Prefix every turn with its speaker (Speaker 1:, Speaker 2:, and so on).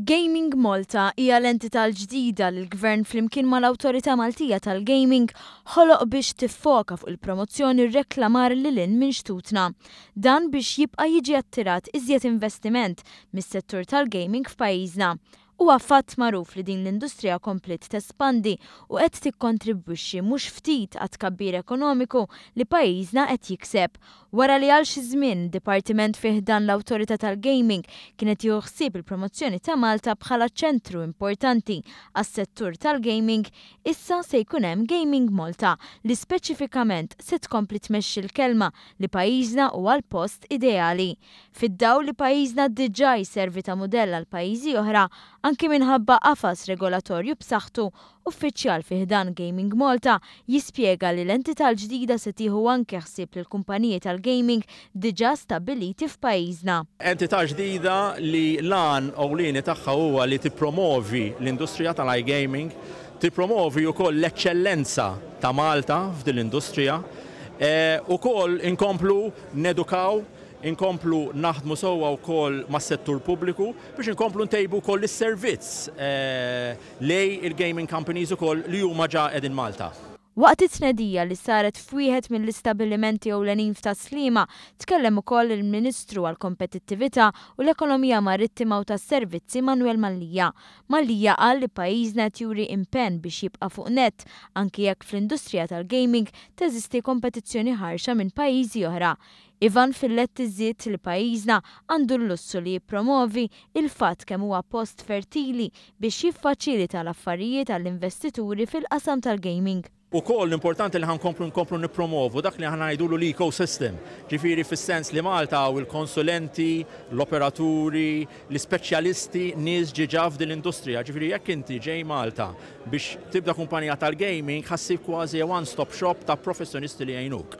Speaker 1: Gaming Malta hija l-entità l-ġdida li l-Gvern flimkien mal-Awtorità Maltija tal-Gaming ħoloq biex tiffoka fuq il-promozzjoni u r-reklamar lil hinn minn xtutna. Dan biex jibqa' jiġi attirat iżjed investiment mis-settur tal-gaming f'pajjiżna. Huwa fatt magħruf li din l-industrija kompliet tespandi u qed tikkontribwixxi mhux ftit għat-tkabbir ekonomiku li pajjiżna qed jikseb. Wara li għal xi żmien, dipartiment fi ħdan l-Awtorità tal-Gaming kien qed jieħu ħsieb il-promozzjoni ta' Malta bħala ċentru importanti għas-settur tal-gaming, issa se jkun hemm Gaming Malta li speċifikament se tkompli tmexxi l-kelma li pajjiżna huwa l-post ideali fid-dawl li pajjiżna diġà jservi ta' mudell għal pajjiżi oħra anki minħabba qafas regolatorju b'saħħtu, uffiċjal fi ħdan Gaming Malta jispjega li l-entità l-ġdida se tieħu anke ħsieb lill-kumpaniji tal-gaming diġà stabbiliti f'pajjiżna. Entità ġdida
Speaker 2: li l-għan ewlieni tagħha huwa li tippromovi l-industrija tal-iGaming, tippromovi wkoll l-eċċellenza ta' Malta f'din l-industrija, ukoll inkomplu nedukaw Inkomplu naħdmu sewwa wkoll mas-settur pubbliku biex inkomplu ntejbu wkoll is-servizz lejn il-gaming companies ukoll li huma ġa qegħdin Malta. Waqt it-tnedija
Speaker 1: li saret f'wieħed mill-istabilimenti ewlenin f'Tas-Sliema, tkellem ukoll il-Ministru għall-Kompetittività u l-Ekonomija Marittima u tas-Servizzi Manwel Mallia. Mallia qal li pajjiżna qed juri impenn biex jibqa' fuq nett, anki jekk fl-industrija tal-gaming teżisti kompetizzjoni ħarxa minn pajjiżi oħra. Ivan Filletti żied li pajjiżna għandu l-lussu li jippromovi l-fatt kemm huwa post fertili biex jiffaċilita l-affarijiet għall-investituri fil-qasam tal-gaming. Ukoll importanti
Speaker 2: li ħa nkomplu nkomplu nippromovu dak li aħna ngħidulu l-ecosystem, ġifieri fis-sens li Malta hawn il-konsulenti, l-operaturi, l-ispeċjalisti, nies ġiġa f'din l-industrija. Ġifieri jekk inti ġej Malta biex tibda kumpanija tal-gaming ħa ssib kważi one-stop shop ta' professjonisti li jgħinuk.